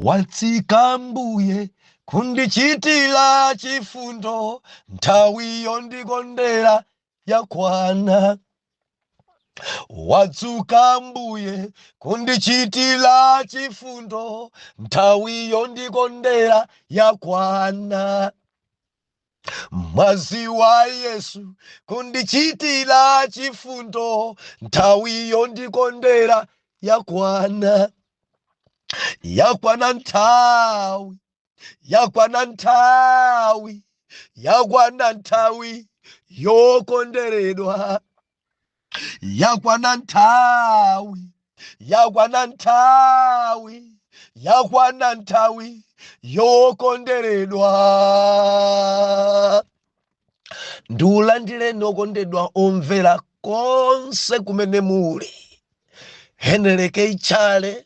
Wadzuka Mbuye kundichitira chifundo, nthawi yondikondera yakwana. Wadzuka Mbuye kundichitira chifundo, nthawi yondikondera yakwana. Mwazi wa Yesu kundichitira chifundo, nthawi yondikondera yakwana, yakwana nthawi, yakwana nthawi, yakwana nthawi yokonderedwa. yakwana nthawi yakwana nthawi yakwana nthawi yokonderedwa ndiulandireni okondedwa omvera konse kumene muli henry k chale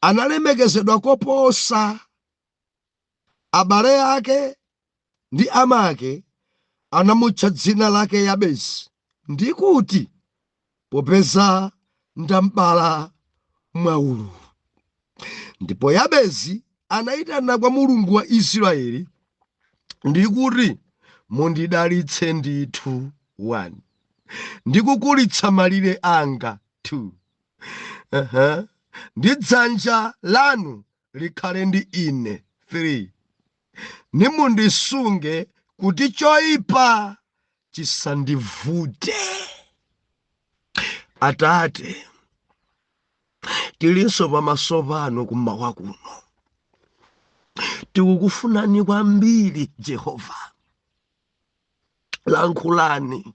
analemekezedwa koposa abale ake ndi amake anamutcha dzina lake Yabezi, ndi kuti, popeza ndam'bala mwaululu. Ndipo Yabezi anayitana kwa Mulungu wa Israeli ndi kuti, Mundidalitse ndithu 1 ndi kukulitsa malire anga 2 ndi dzanja lanu likhale ndi ine 3 nimundisunge kuti choyipa chisandivute atate tilinso pamaso panu kummawa kuno tikukufunani kwambiri jehova lankhulani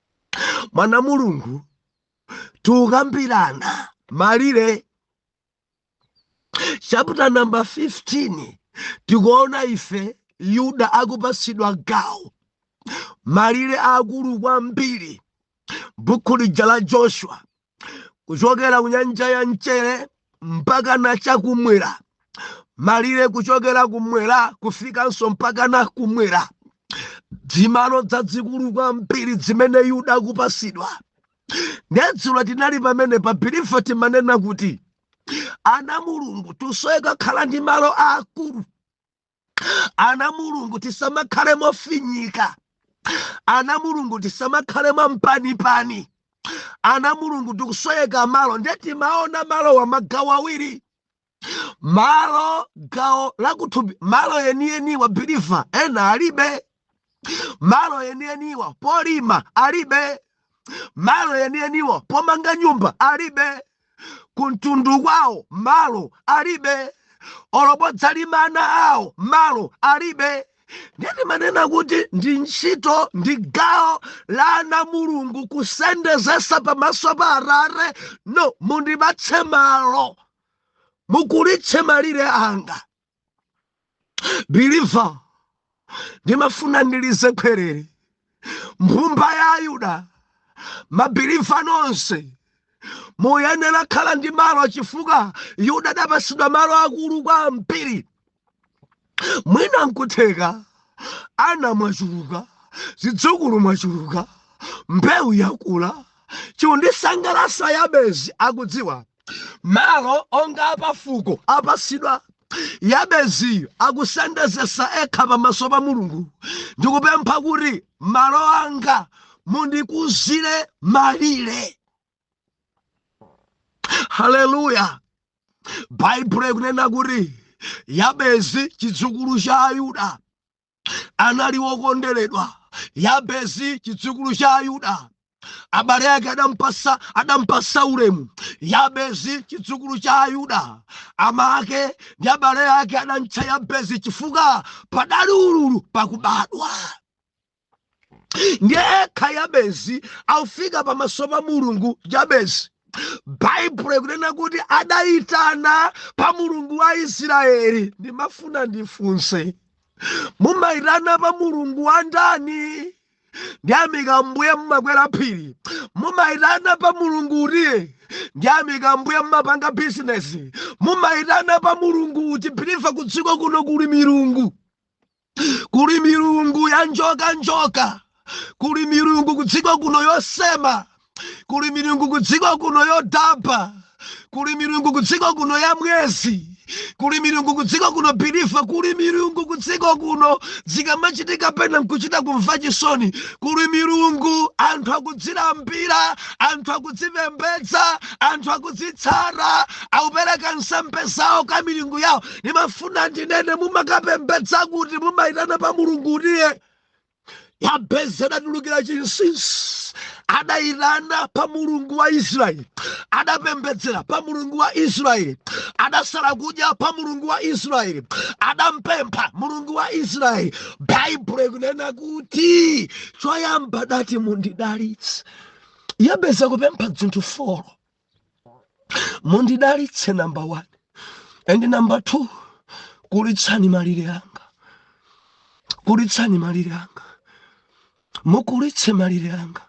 mwana mulungu tukambirana malire chapter number 15 tikuona ife yuda akupasidwa gawo malire aakulu kwambiri buku lija la joshua kuchokera ku nyanja ya mchere mpaka na chakumwera malire kuchokera kumwera kufikanso mpaka na kumwera dzimalo dzadzikulu kwambiri dzimene yuda akupasidwa ndedzulo tinali pamene pa believer timanena kuti ana mulungu tusoyeka khala ndi malo aakulu ana mulungu tisamakhale mofinyika ana mulungu tisamakhale mwampanipani ana mulungu tikusoyeka malo nde timaona malo wa magawo awiri malo gawo lakuthupi malo enieni wa believer ena alibe malo enieniwa polima alibe malo enieniwa pomanga nyumba alibe kuntundu kwawo malo alibe olo podzalima ana awo malo alibe ndiye ndimanena kuti ndi ntchito ndi gawo la ana mulungu kusendezesa pamaso pa atate no mundipatse malo mukulitse malire anga believer ndimafuna ndilize khwerere mbumba ya ayuda mabiliva nonse muyenera khala ndi malo chifukwa yuda adapatsidwa malo akulu kwambiri mwina nkutheka ana mwachuluka zidzukulu mwachuluka mbewu yakula chondisangalatsa yabezi akudziwa Malo onga apafuko apasidwa Yabezi akusendezesa ekha pamaso pa Mulungu ndikupempha kuti malo anga mundikuzire malire. Haleluya! Baibulo ikunena kuti Yabezi chidzukulu cha Ayuda anali wokonderedwa yabezi chidzukulu cha ayuda abale ake adampasa adampasa ulemu yabezi chidzukulu cha ayuda ama ake ndi abale ake adamtcha yabezi chifukwa padali ululu pakubadwa ndiye ekha yabezi akufika pamaso pa mulungu yabezi baibulo ikunena kuti adayitana pa mulungu wa israeli ndimafuna ndifunse mumayitana pa mulungu wa ndani ndiyamika mbuye mumakwera phiri mumayitana pa mulungu uti ndiyamika mbuye mumapanga bizinesi mumayitana pa mulungu uti biliva kudziko kuno kuli milungu kuli milungu ya njoka njoka kuli milungu kudziko kuno yosema kuli milungu kudziko kuno yodabwa kuli milungu kudziko kuno ya mwezi kuli milungu kudziko kuno biliva kuli milungu kudziko kuno zikamachitika pena nkuchita kumva chisoni kuli milungu anthu akudzilambira anthu akudzipembedza anthu akudzitsata akupereka nsembe zawo ka milungu yawo ndimafuna ndinene mumakapembedza kuti mumayitana pa mulungu utiye yabezi adatulukira chinsinsi adayitana pa mulungu wa israeli adapembedzera pa mulungu wa israeli adasala kudya pa mulungu wa israeli adampempha mulungu wa israeli baibulo ikunena kuti choyamba adati mundidalitse yabezi akupempha dzinthu folo mundidalitse namba 1 and namba 2 kulitsani malire anga kulitsani malire anga mukulitse malire anga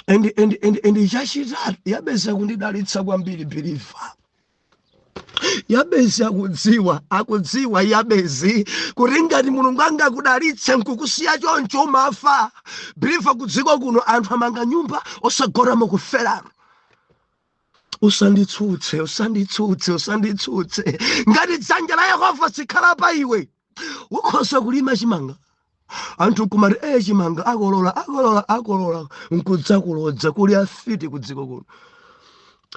and and and and chachitatu yabezi akundidalitsa kwambiri believe yabezi akudziwa akudziwa yabezi kuti ngati mulungu angakudalitse nkukusiya choncho umafa believer kudziko kuno anthu amanga nyumba osagona mukuferano usanditsutse usanditsutse usanditsutse ngati dzanja la yehova sikhala pa iwe ukhoza kulima chimanga anthu nkumati eye chimanga akolola akolola akolola nkudzakulodza kuli afiti ku dziko kuno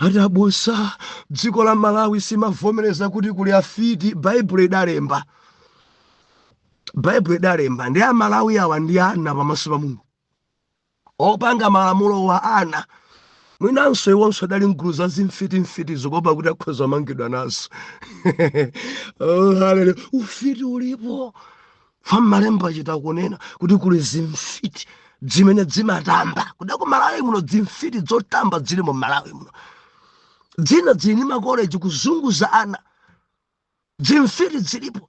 ati abusa dziko la malawi simavomereza kuti kuli afiti baibulo idalemba baibulo idalemba ndi amalawi awa ndi ana pamaso pa mulungu Opanga malamulo wa ana mwinanso iwonso adali mgulu za zimfitimfiti zokopa kuti akhoza kumangidwa nazo oh, hallelujah. ufiti ulipo ka mmalembo achita kunena kuti kuli zimfiti dzimene dzimatamba kuda ku malawi muno dzimfiti dzotamba dzili mu malawi muno dzina dzili ni makoleji kuzunguza ana dzimfiti dzilipo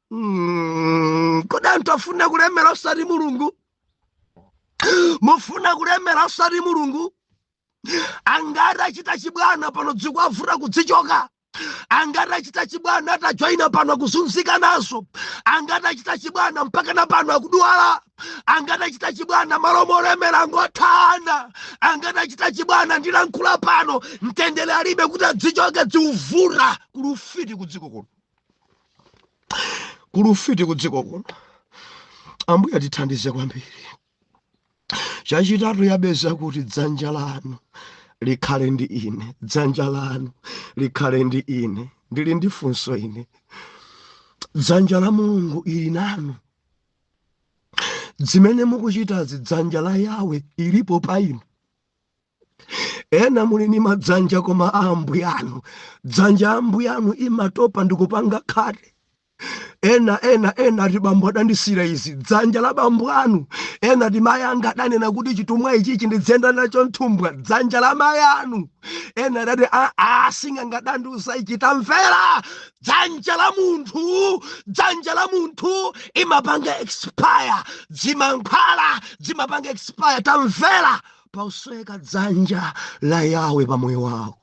Mm, kodi anthu afuna kulemera osati mulungu mufuna kulemera osati mulungu angati achita chibwana pano dzikuwavuta kudzichoka angati achita chibwana atajoyina pano akuzunzika nazo angati achita chibwana mpaka na pano akudwala angati achita chibwana m'malo molemera angothana angati achita chibwana ndilankhula pano mtendere alibe kuti adzichoke dzikuvuta kuli ufiti kudziko kuno kuli ufiti ku dziko kuno ambuye atithandize kwambiri chachitatu yabezi akuti dzanja lanu likhale ndi ine dzanja lanu likhale ndi ine ndili ndi funso ine dzanja la mulungu ili nanu zimene mukuchitazi dzanja la yawe ilipo pa inu ena muli ni madzanja koma a ambuyanu dzanja a ambuyanu imatopa ndikupanga khate ena ena ena ati bambo adandisira izi dzanja la bambo anu ena ati mayi anga adanena kuti chitumwa ichichi ndidziyenda nacho m'thumba dzanja la mayi anu ena adati asing'anga adandiuza ichi tamvera dzanja la munthu dzanja la munthu imapanga expire zimankhwala zimapanga expire tamvera pakusoweka dzanja la yawe pa moyo wako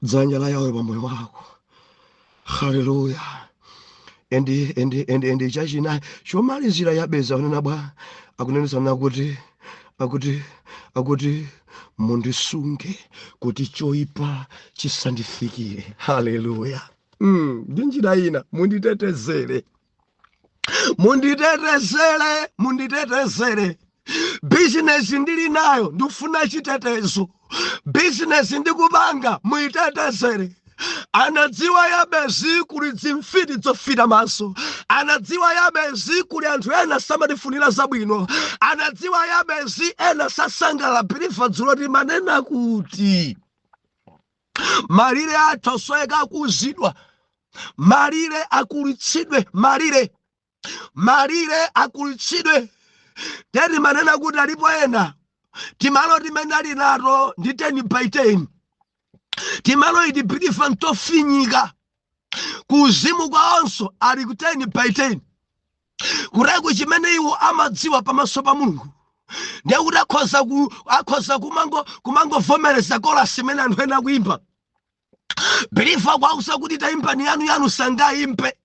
dzanja la yawe pa moyo wako haleluya endi endi endi endi chachinayi chomalizira yabezi akunena bwa akunenetsana kuti akuti akuti mundisunge kuti choipa chisandifikire haleluya mm, ndi njira ina munditetezere munditetezere munditetezere bizinesi ndili nayo ndifuna chitetezo bizinesi ndikupanga muyitetezere anadziwa yabezi kuli dzimfiti dzofita maso anadziwa yabezi kuli anthu ena samatifunira zabwino anadziwa yabezi ena sasangala believer dzulo timanena kuti Malire atosoweka kukuzidwa, malire akulitsidwe, malire malire akulitsidwe. Ndiye timanena kuti alipo ena timalo timene ali nato ndi 10 by 10 timalo iti believer ntofinyika kuuzimu kwawonso ali ku 10 by 10 kutereku chimene iwo amadziwa pamaso pa mulungu ndiye kuti akhoza ku- akhoza kumango kumangovomereza kolasi imene anthu ena akuimba believer akuwauza kuti taimbani yanu yanu sangayimbe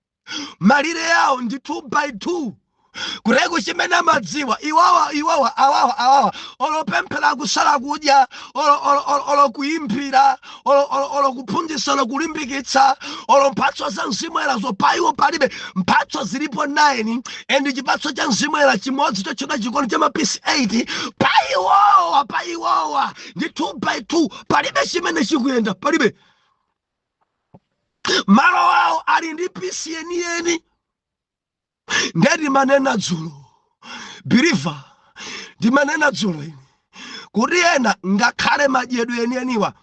malire yawo ndi 2 by 2 kutereku chimene amadziwa iwowa iwowa awawa awawa olo pemphera kusala kudya olo- olo- olo- olo kuimbira olo- olo- olo kuphunzitsa olo kulimbikitsa olo mphatso za mzimu woyerazo pa iwo palibe mphatso zilipo 9 and chipatso cha mzimu woyera chimodzi chotchedwa chikondi cha mapisi 8 pa iwowa pa iwowa ndi 2 by 2 palibe chimene chikuyenda palibe malo awo ali ndi pisi yeniyeni nde timanena dzulo believer ndimanena dzulo ine kuti ena ngakhale madyedwe enieniwa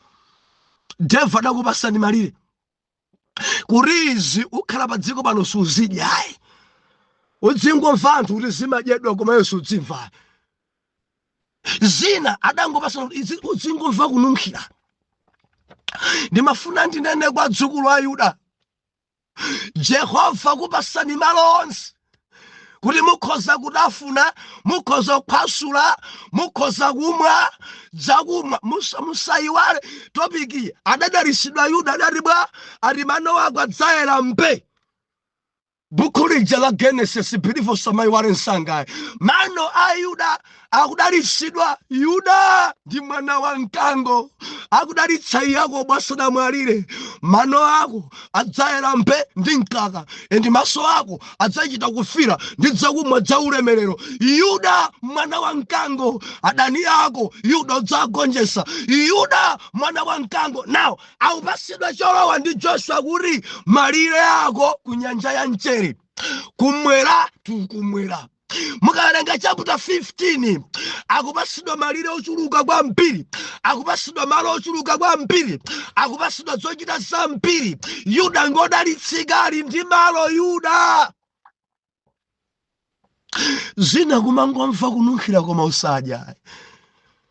devil adakupasani malire kuti izi ukhala pa dziko pano suzidyayi udzingomva anthu kuti zimadyedwa koma iwe sudzimva zina adangopasana kuti izi udzingomva kununkhira ndimafuna ndinene kwa adzukulu a yuda jehova akupasani malo onse kuti mukhoza kutafuna mukhoza kuphwasula mukhoza kumwa zakumwa musa- musayiwale topiki adadalisidwa yuda adati bwa ati mano ako adzayera mbe buku lija la genesis believer osamayiwala msangayi mano a yuda akudalitsidwa yuda ndi mwana wa mkango akudalitsa Yakobo asanamwalire mano ako adzayera mpe ndi mkaka and maso ako adzachita kufira ndi dzakumwa dza ulemerero yuda mwana wa mkango adani ako yuda udzagonjesa yuda mwana wa mkango now akupatsidwa cholowa ndi joshua kuti malire ako ku nyanja ya mchere kumwera tikumwera mukawerenga chaputa 15 akupatsidwa malire ochuluka kwambiri akupatsidwa malo ochuluka kwambiri akupatsidwa zochita zambiri yuda ngodalitsika ali ndi malo yuda zina kumangomva kununkhira koma usadya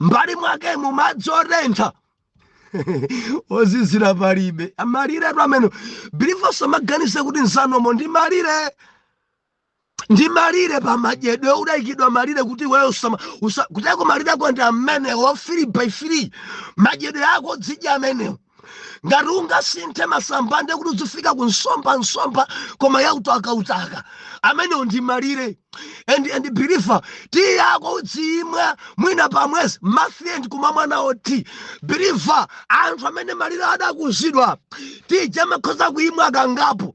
mbali mwakemo madzi otentha ozizira palibe malire atu amenewo believe-nso amaganize kuti nsanomo ndi malire ndi malire pa madyedwe udayikidwa malire kuti iweyo usama- usakuteko malire ako ndi amenewo free by free madyedwe ako udzidya amenewo ngati ungasinthe masamba ndiye kuti udzifika ku nsomba nsomba koma ya utaka utaka amenewo ndi malire and and believe tiyi yako udziyimwa mwina pamwezi month end kumamwa nawo tea believe anthu amene malire adakuzidwa tea ija amakhoza kuyimwa kangapo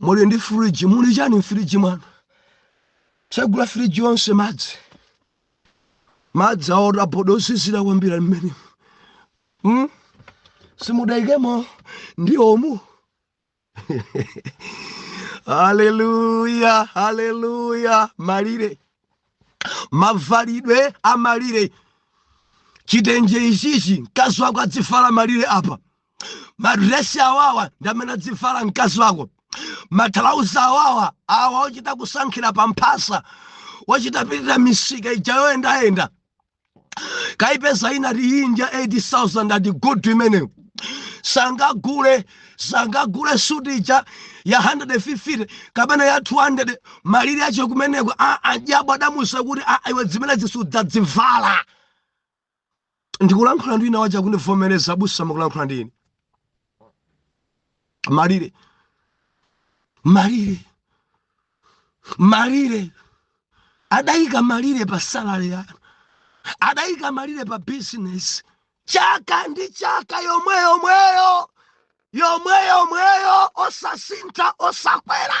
muli ndi firiji muli chani mfiriji mwanu tsegula firiji yonse madzi madzi otaboda ozizira kwambiri m'mene simudayikemo ndi omu haleluya haleluya malire mavalidwe amalire chitenje ichichi mkazi wako adzivala malire apa madresi awawa ndi amene adzivala mkazi wako mathalauza awawa awa ochita kusankhira pa mphasa ochita pitira misika ija yoyendayenda kaipeza ina ati ndi ya 8000 ati good imeneyo sangagule sangagule suti ija ya 150 kapena ya 200 malire ake kumeneko a- ajabu adamuuza kuti a- iwe zimenezi sudzazivala ndikulankhula ndi wina wacha kundivomereza abusa mukulankhula ndi ine malire malire malire adayika malire pa salary yanu adayika malire pa business chaka ndi chaka yomwe yomweyo yomwe yomweyo osasintha osakwera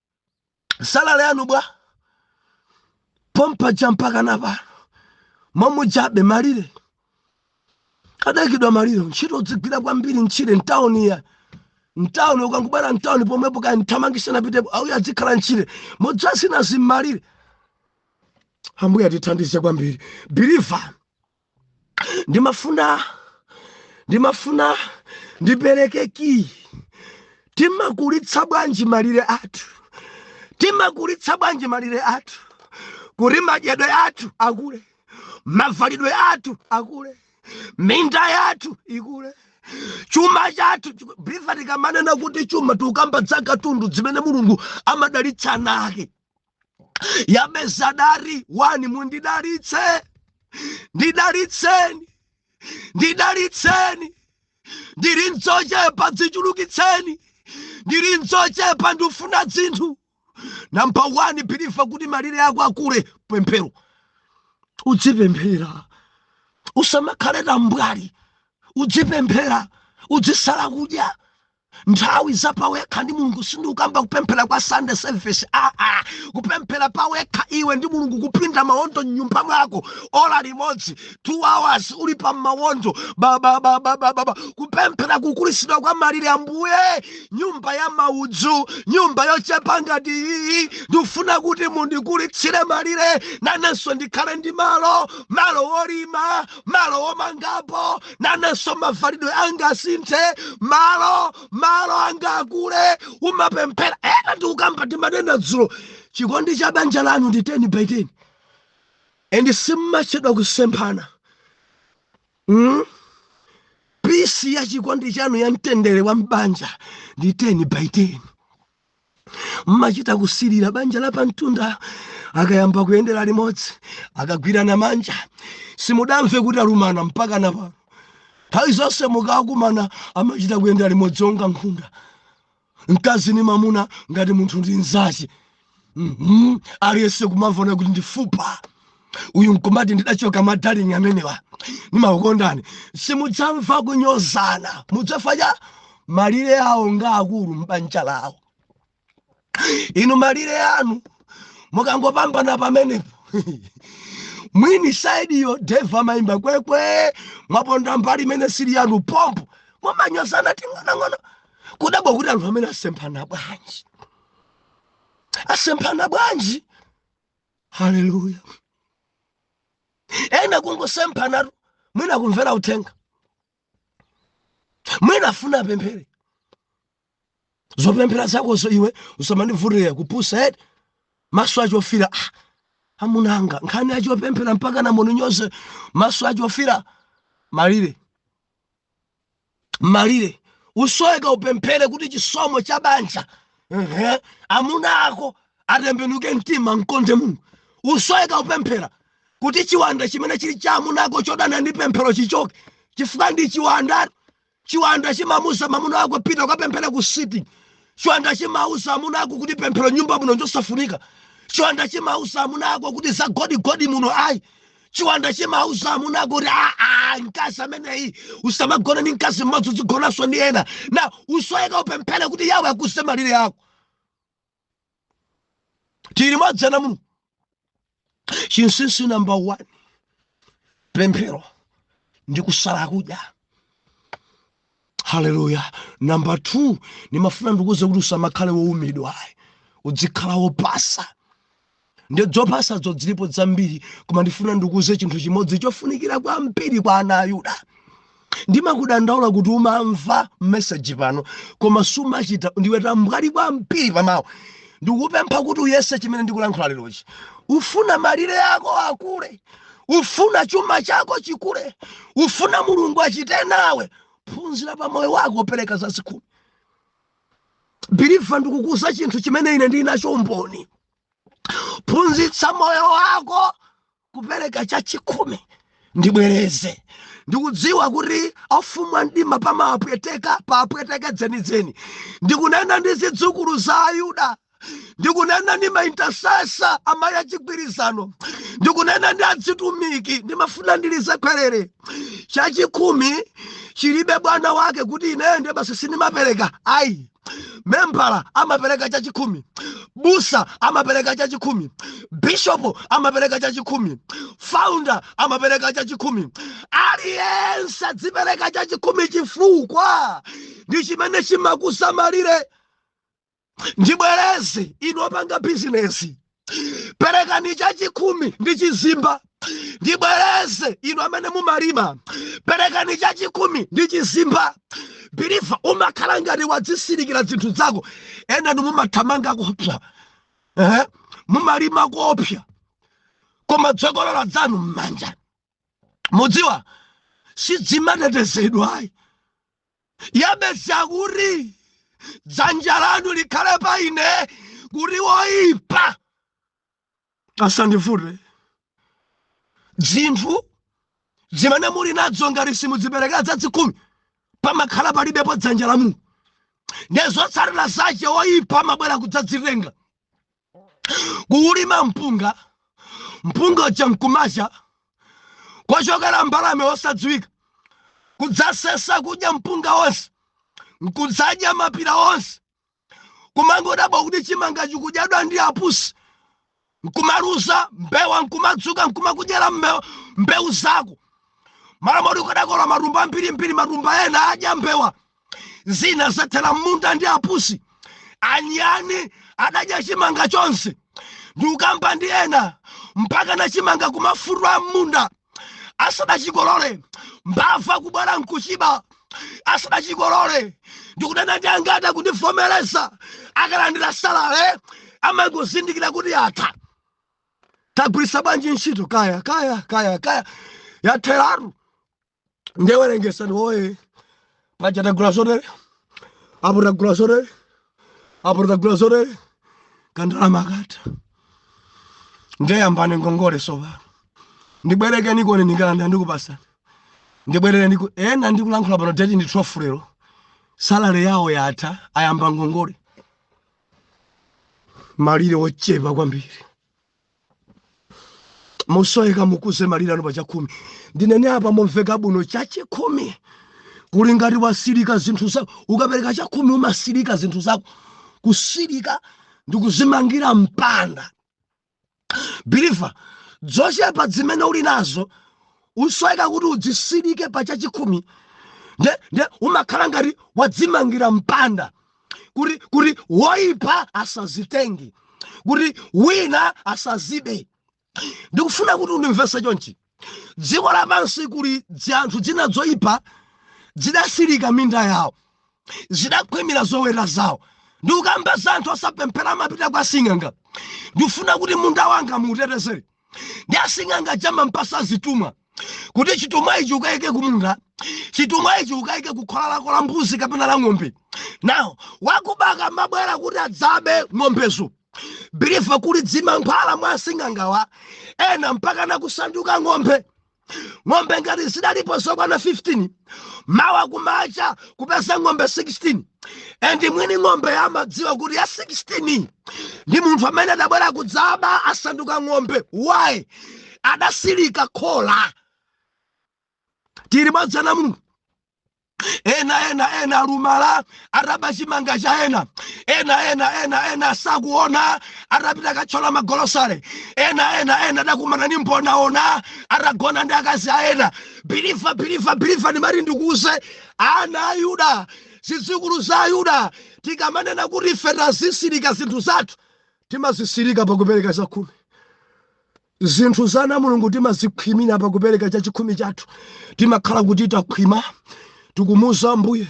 salale yanu bwa pompaja mpaka na pano momujabe malire adaikidwa malire ntchito udzigwira kwambiri ntchire mtawuni ya mtawuni ukangobwera mtawuni pomwepo kaya mthamangitse napitepo auya adzikhala ntchire mudzasina zimmalire ambuye atithandize kwambiri believer ndimafuna ndimafuna ndipereke kiyi timakulitsa bwanji malire athu timakulitsa bwanji malire athu kuti madyedwe athu akule mavalidwe athu akule minda yathu ikule chuma chathu chiku- believer tikamanena kuti chuma tikukamba za katundu zimene mulungu amadalitsa ana ake yabezi adati wani mundidalitse ndidalitseni ndidalitseni ndiri n'dzochepa dzichulukitseni ndiri n'dzochepa ndifuna dzinthu namba 1 believer kuti malire ako akule pemphero udzipemphera usamakhale tambwali udzipemphera udzisala kudya nthawi za pawekha ndi mulungu sindikukamba kupemphera kwa sunday service aa kupemphera pawekha iwe ndi mulungu kupinda mawondo mnyumba mwako ola limodzi two hours uli pa mawondo babababababa kupemphera kukulitsidwa kwa malire ambuye nyumba ya maudzu nyumba yochepa ngati iyi ndikufuna kuti mundikulitsire malire nanenso ndikhale ndi malo malo wolima malo omangapo nanenso mavalidwe anga asinthe malo malo anga akule umapemphera ena ndikukamba timanena dzulo chikondi cha banja lanu ndi 10 by 10 and simmachedwa kusemphana mm? pisi ya chikondi chanu ya mtendere wa mbanja ndi 10 by 10 mmachita kusirira banja la pamtunda akayamba kuyendera limodzi akagwirana manja simudamve kuti alumana mpaka na pano nthawi zonse mukakumana amachita kuyendera limodzi onga nkhunda mkazi ni mamuna ngati munthu ndi nzache Mhm. aliyense kumamuona kuti ndi fupa uyu nkumati ndidachoka madaling amenewa nimakukondani simudzamva kunyozana mudzafanya malire awo ngaakulu m'banja lawo inu malire anu mukangopambana pamenepo mwini side yo devil amayimba kwekwe mwaponda mbali imene sili yanu pompo mumanyozana ting'onang'ono kudabwa kuti anthu amene asemphana bwanji asemphana bwanji haleluya ena kungosemphanatu mwina kumvera uthenga mwina afuna apemphere zopemphera zakozo iwe usamandivutire kupusa eti maso achofira ah, amunanga nkhani achopemphera mpaka namuninyoze maso achofira malire malire usoyeka upemphere kuti chisomo cha banja ehe, amuna ako atembenuke mtima amkonde mulungu usoyeka upemphere kuti chiwanda chimene chili cha amuna ako chodana ndi pemphero chichoke chifukwa ndi chiwanda chiwanda chimamuuza mamuna ako pita ukapemphera ku city chiwanda chimauza amuna ako kuti pemphero mnyumba muno njosafunika chiwanda chimauza amuna ako kuti za godigodi muno ayi chiwanda chimauza amuna ako kuti aa mkazi ameneyi usamagona ndi mkazi mmodzi uzigonanso ndi ena na usoyeka upemphere kuti yawe akuze malire ako tili mwa dzina muno chinsinsi namba 1 pemphero ndi kusala kudya haleluya namba 2 ndimafuna ndikuuze kuti usamakhala woumira ayi udzikhala wopasa ndi dzopasadzo dzilipo dzambiri koma ndifuna ndikuuze chinthu chimodzi chofunikira kwambiri kwa ana a yuda ndimakudandaula kuti umamva meseji pano koma sumachita ndiwe tambwali kwambiri pamawu ndikupempha kuti uyese chimene ndikulankhula lerochi ufuna malire ako akule ufuna chuma chako chikule ufuna mulungu achite nawe phunzira pa moyo wako pereka chachikhumi biliva ndikukuuza chinthu chimene ine ndili nacho umboni phunzitsa moyo wako kupereka chachikhumi ndibwereze ndikudziwa kuti afumu a mdima pamawapweteka pawapweteke dzenidzeni ndikunena ndi zidzukulu za ayuda ndikunena ndi maintasesa amayi achigwirizano ndikunena ndi adzitumiki ndimafuna ndilize khweru chachikhumi chilibe bwana wake kuti ineyo ndiye basi sindimapereka ayi membala amapereka chachikhumi busa amapereka chachikhumi bishopu amapereka chachikhumi founder amapereka chachikhumi aliyense adzipereka chachikhumi chifukwa ndi chimene chimakuza malire ndibwereze inu opanga bizinesi perekani chachikhumi ndi chizimba ndibwereze inu amene mumalima perekani chachikhumi ndi chizimba biliva umakhala ngati wadzisirikira zinthu zako enani mumathamanga koopsa mumalima koopsa koma dzokolola dzanu m'manja mudziwa sidzimatetezedwa ayi yabesi kuti dzanja lanu likhale pa ine kuti woyipa asandivute dzinthu zimene muli nadzo ngati simudziperekera dzadzikhumi pamakhala palibepo dzanja la mulungu nde zotsatira zache woyipa amabwera kudzadzitenga kulima mpunga mpunga uja nkumacha kochokera mbalame osadziwika kudzasesa kudya mpunga wonse nkudzadya mapira onse kumangodabwa kuti chimanga chikudyadwa ndi apusi nkumaluza mbewa nkumadzuka nkumakudyera mbe- mbewu zako m'malo moti ukadakola matumba ambirimbiri matumba ena adya mbewa zina zathera m'munda ndi apusi anyani adadya chimanga chonse ndikukamba ndi ena mpaka na chimanga kumafumbwa m'munda asanachikolole mbava kubwera nkuchiba asanachikolole ndikunena ndi angati kundivomereza akalandira salale amangozindikira kuti yatha tagwiritsa bwanji ntchito kaya kaya kaya kaya yatheratu nde werengetsani woye paja tagula zotere apo tagula zotere apo tagula zotere kandalama akatha nde yambani ngongole sopano ndibwerekeniko ndikalandira ndikupatsani ndibwerere ndiku ena ndikulankhula pano deti ndi 12 lero salary yawo yatha ayamba ngongole malire ochepa kwambiri musoweka mukuze malire anu pachakhumi ndinene pa momveka bwino chachikhumi kuli ngati wasirika zinthu zako ukapereka chakhumi umasirika zinthu zako kusirika ndi kudzimangira mpanda biliva dzochepa zimene uli nazo usoweka kuti udzisirike pa chachikhumi nde nde umakhala ngati wadzimangira mpanda kuti kuti woipa asazitenge kuti wina asazibe ndikufuna kuti undimvetse chonchi dziko lapansi kuli dzanthu dzina dzoipa dzidasirika minda yawo zidakhwimira zoweta zawo ndikukamba za anthu osapemphera amapita kwa sing'anga ndifuna kuti munda wanga muutetezere ndi asing'anga aja amampatsa zithumwa kuti chithumwa ichi ukayike kumunda chithumwa ichi ukayike kukhola lako la mbuzi kapena la ng'ombe nawo akuba akamabwera kuti adzabe ng'ombezo biliva kuli dzimankhwala mwa asing'angawa ena mpaka nakusanduka ng'ombe ng'ombe ngati zidalipo zokwana 15 mawa kumacha kupeza ng'ombe 16 and mwini ng'ombe amadziwa kuti ya 16 ndi munthu amene adabwera kudzaba asanduka ng'ombe why adasilika khola tili limodzi ana a mulungu ena ena ena alumala ataba chimanga cha ena ena ena ena ena sakuona atapita katchola magolosale ena ena ena adakumana ni mbonaona atagona ndi akazi a ena believer believer believer ndimati ndikuuze ana a yuda zidzukulu za ayuda tikamanena kuti ife tazisirika zinthu zathu timazisirika pakupereka chakhumi Zinthu za ana a Mulungu timazikhwimira pa kupereka chachikhumi chathu. Timakhala kuti takhwima, tikumuuza Ambuye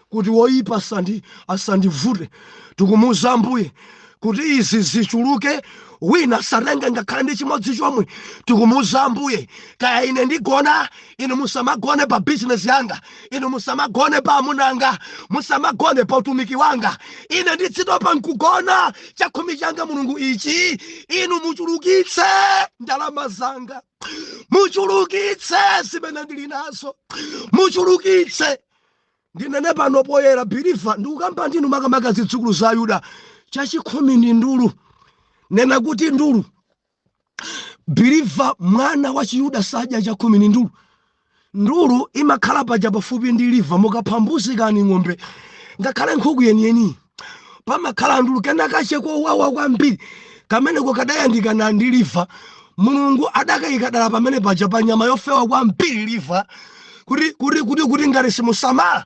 kuti woyipa asandi asandivute, tikumuuza Ambuye kuti izi zichuluke wina asatenge ngakhale ndi chimodzi chomwe tikumuuza ambuye kaya ine ndigona inu musamagone pa bizinesi yanga inu musamagone pa amuna anga musamagone pa utumiki wanga ine ndidzitopa nkugona chakhumi changa mulungu ichi inu muchulukitse ndalama zanga muchulukitse zimene ndili nazo muchulukitse ndinene pano poyera believer ndikukamba ndinu makamaka zidzukulu za ayuda chachikhumi ndi ndulu nena kuti ndulu believer mwana wa chiyuda sadya chakhumi ni ndulu ndulu imakhala paja pafupi ndi liver mukapha mbuzi kani ng'ombe ngakhale nkhuku yeniyeni pamakhala ndulu kenakache kowawa kwambiri kameneko kadayandikana ndi liver mulungu adakayika dala pamene paja pa nyama yofewa kwambiri liver kuti kuti kuti kuti ngati simusamala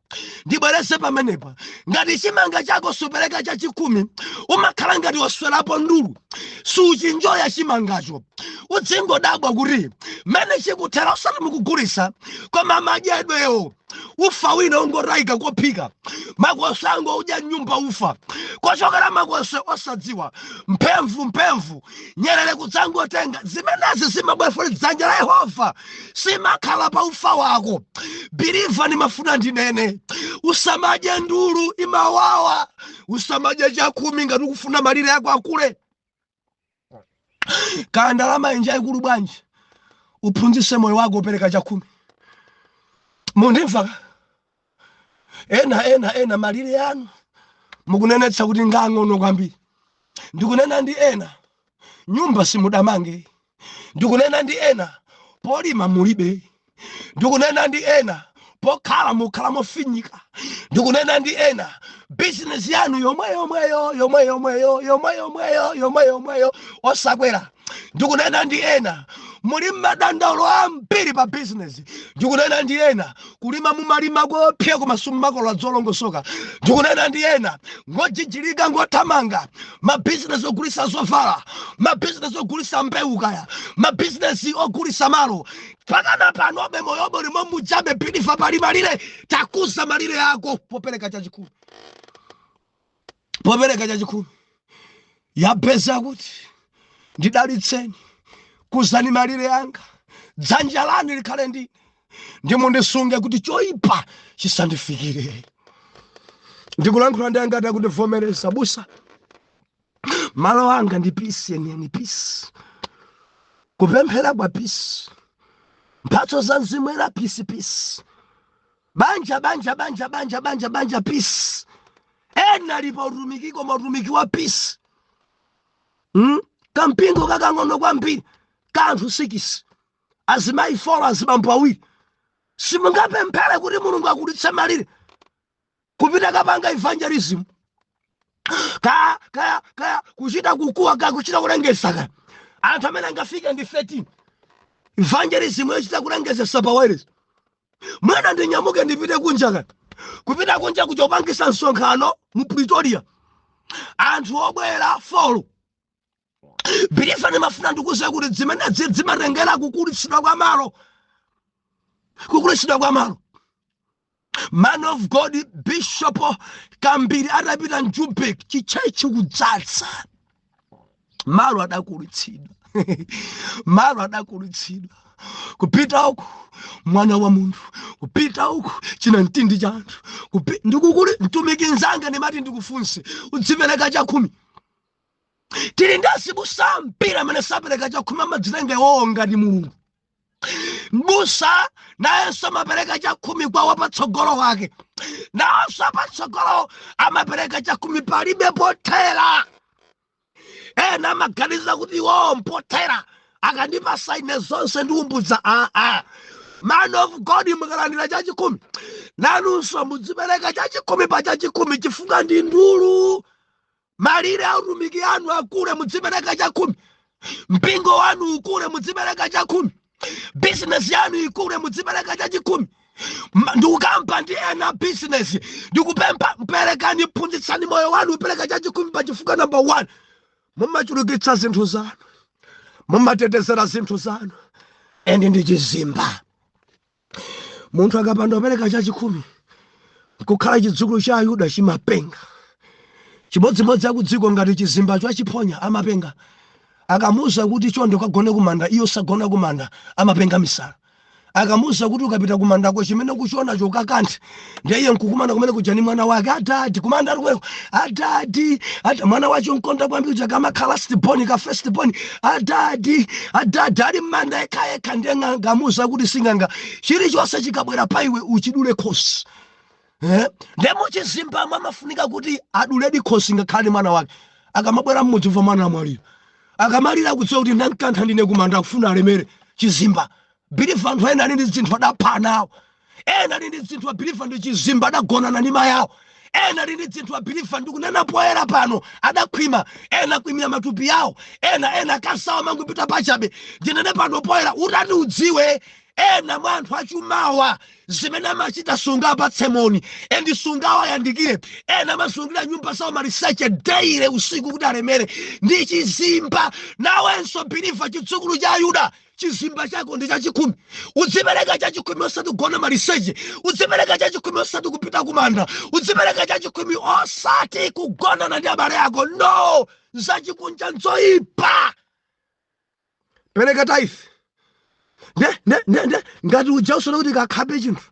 ndibwereze pamenepa ngati chimanga chako supereka chachikhumi umakhala ngati waswerapo ndulu suchinjoya chimangacho udzingodabwa kuti mmene chikuthera usati mukugulisa koma madyedwewo ufa wina ungotayika kophika makoswe angoudya m'nyumba ufa kochokera makoswe osadziwa mphemvu mphemvu nyerere kudzangotenga zimenezi zimabwefule dzanja la yehova simakhala pa ufa wako believer ndimafuna ndinene usamadye ndulu imawawa usamadye chakhumi ngati ukufuna malire ako akule kaya ndalamayi njaikulu bwanji uphunzise moyo wako kupereka chakhumi mundimva ena ena ena malire anu mukunenetsa kuti ngaang'ono kwambiri ndikunena ndi ena nyumba simudamange ndikunena ndi ena polima mulibe ndikunena ndi ena pokhala mukhala mofinyika ndikunena ndi ena bizinesi yanu yomwe yomweyo yomwe yomweyo yomwe yomweyo yomwe yomweyo osakwera ndikunena ndi ena muli madandaulo ambiri pa bizinesi ndikunena ndi ena kulima mumalima kopya koma simumakolola zolongosoka ndikunena ndi ena ngojijirika ngothamanga mabizinesi ogulisa zovala mabizinesi ogulisa mbewu kaya mabizinesi ogulisa malo pakana panobe moyo uli mwachabe bilifa pali malire takuza malire ako popereka chachikhumi popereka chachikhumi Yabezi akuti ndidalitseni kuzani malire anga, dzanja lanu likhale ndi ine ndimundisunge kuti choyipa chisandifikire ndikulankhula ndi angati akundivomereza abusa malo anga ndi pisi yeniyeni pisi kupemphera kwa pisi mphatso za mzimu woyera pisi pisi banja banja banja banja banja banja peace ena ali pa utumiki koma utumiki wa peace mm? kampingo kakang'ono kwambiri ka anthu sikisi azimayi folo azibambo awiri simungapemphere kuti mulungu akulitse malire kupita kukapanga evangelism kaya kaya kaya kuchita kukuwa kaya kuchita kulengeza kaya anthu amene angafike ndi 13 evangelism yochita kulengezesa pa wireless mwina ndinyamuke ndipite kunja kaya kupita kunja kukapangisa msonkhano mu pretoria anthu obwera folo bilifa ndimafuna ndikuuze kuti zimenezi dzimatengera kukulitsidwa kwa malo kukulitsidwa kwa malo man of god bishop kambiri atapita Joburg chitchetchi kudzaza malo adakulitsidwa malo adakulitsidwa kupita uku mwana wa munthu kupita uku china mtindi cha anthu Kupi- ndikukuli mtumiki nzanga ndimati ndikuuze udzipereka chakhumi tili ndi azibusa ambiri amene sapereka chakhumi amadzitenga iwowo ngati mulungu mbusa nayenso amapereka chakhumi kwa wapatsogolo wake nayenso apatsogolo amapereka chakhumi palibe pothera ena amaganiza kuti iwowo mpothera akandipasa ine zonse ndi umbudza aa man of god mukalandira chachikhumi nanunso mudzipereka chachikhumi pa chachikhumi chifukwa ndi ndulu Malire a utumiki anu akule, mudzipereka chakhumi. Mpingo wanu ukule, mudzipereka chakhumi. Bizinesi yanu ikule, mudzipereka chachikhumi. Ma- ndikukamba ndi ena bizinesi ndikupempha perekani phunzitsani moyo wanu kupereka chachikhumi pa chifukwa namba 1 mumachulukitsa zinthu zanu mumatetezera zinthu zanu endi ndi chizimba munthu akapanda kupereka chachikhumi nkukhala chidzukulu cha ayuda chimapenga chimodzimodzi akudziko ngati chizimba chachiphonya amapenga akamuuza kuti chonde ukagone kumanda iye osagona kumanda amapenga misala akamuuza kuti ukapita kumandako chimene ukuchionacho ukakanthe ndiye iye nkukumana kumene kuja ni mwana wake adadi kumanda kumeneko adadi ada mwana wache onkonda kwambiri uja kamakhala lastiboni ka festiboni adadi adadi ali mmanda yekhayekha ndiye ng'anga amuuza kuti sing'anga chilichonse chikabwera pa iwe uchidule khosi Eh, ndiye muchizimbamo amafunika kuti aduledi khosi ngakhale ni mwana wake akamabwera mmudzi umva mwana amwalira akamalira kudziwa kuti ndankantha ndine kumanda akufuna alemere chizimba biliva anthu ena ali ndi zinthu adapha ana awo ena ali ndi dzinthu abiliva ndi chizimba adagonana ndi mayi awo ena ali ndi dzinthu abiliva ndikunena poyera pano adakhwima ena akhwimira matupi yawo ena ena akazi awo amangopita pachabe ndinene pano poyera utati udziwe ena mwa anthu achumawa zimene amachita sungawapatse moni endi sungawayandikire ena amazungulira nyumba zawo maliseche daily usiku kuti alemere ndi chizimba nawenso biliva chidzukulu cha ayuda chizimba chako ndi chachikhumi udzipereka chachikhumi osati kugona maliseche udzipereka chachikhumi osati kupita kumanda udzipereka chachikhumi osati kugonana ndi abale ako no zachikunja nzoyipa pereka tithe ne ne ne ne ngati uja usona kuti kakhape chinthu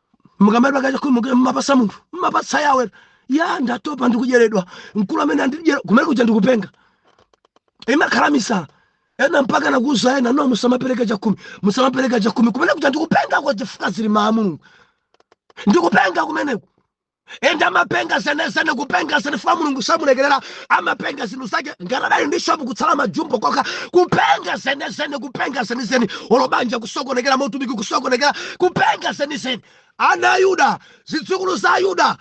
mukamadya kachakhumi mumapasa munthu mumapatsa yawe ya ndatopa ndikudyeredwa mkulu amene andidyera kumene kuja ndikupenga imakhala misala ena mpaka nakuuza ena no musamapereka chakhumi musamapereka chakhumi kumene kuja ndikupenga kwa chifukwa zili mmawu a mulungu ndikupenga kumeneko ende amapenga zenezene kupenga zene chifukwa mulungu samulekerera amapenga zinthu zake ngati adali ndi shopu kutsala majumbo kokha kupenga zenezene kupenga zenizeni olo banja kusokonekera mautumiki kusokonekera kupenga zenizeni ana a yuda zidzukulu za yuda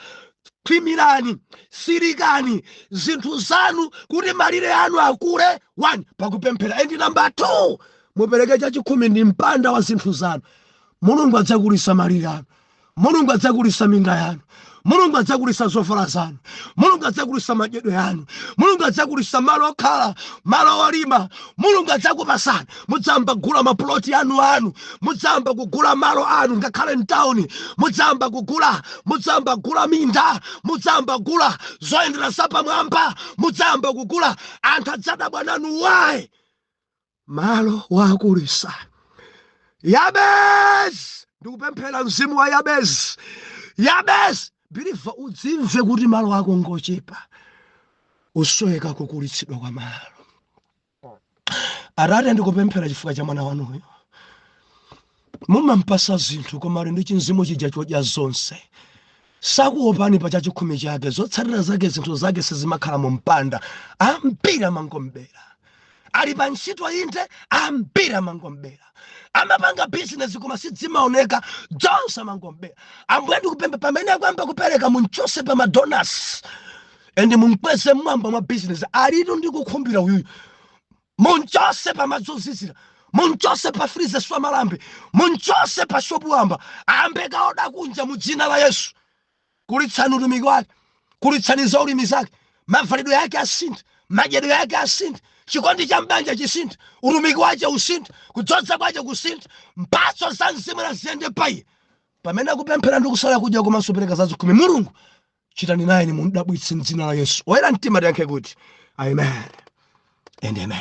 khwimirani tsirikani zinthu zanu kuti malire anu akule 1 pakupemphera endi namba 2 mupereke chachikhumi ndi mpanda wa zinthu zanu mulungu adzakulisa malire anu mulungu adzakulisa minda yanu mulungu adzakulisa zovala zanu mulungu adzakulisa madyedwe yanu mulungu adzakulisa malo okhala malo olima mulungu adzakupasani mudzayamba kugula mapuloti anu anu mudzayamba kugula malo anu ngakhale mtawuni mudzayamba kugula mudzayamba kugula minda mudzayamba kugula zoyendera zapamwamba mudzayamba kugula anthu adzadabwa nanu wayi malo wakulitsa yabezi ndikupemphera mzimu wa yabezi yabezi biliva udzimve kuti malo ako ngochepa usoweka kukulitsidwa kwa malo atate ndikupemphera chifukwa cha mwana wanuyo Mumampasa zinthu koma ali ndi chimzimu chija chodya zonse. Sakuopani pa chachikhumi chake, zotsatira zake zinthu zake sizimakhala mu mpanda. Ambiri amangom'bera. Ali pa ntchito inde, ambiri amangom'bera. Amapanga bizinesi koma sizimaoneka, zonse amangom'bera. Ambuye ndikupempha pamene akuyamba kupereka munchose pa madonasi and mumkweze mmwamba mwa bizinesi alitu ndi kukhumbira uyuyu Munchose pa madzi ozizira, munchose pa freezer zamalambe, munchose pa shop wamba, ayambe kukaoda kunja mu dzina la Yesu. Kulitsani utumiki wake, kulitsani za ulimi zake, mavalidwe yake asinthe, madyedwe yake asinthe, chikondi cha mbanja chisinthe, utumiki wache usinthe, kudzodza kwache kusinthe, mphatso za mzimu naziyende pa iye. Pamene akupemphera ndi kusala kudya komanso pereka za zikhumi, Mulungu chitani nayeni mum'dabwitse mdzina la yesu oyera mtima tiyankhe kuti amen and amen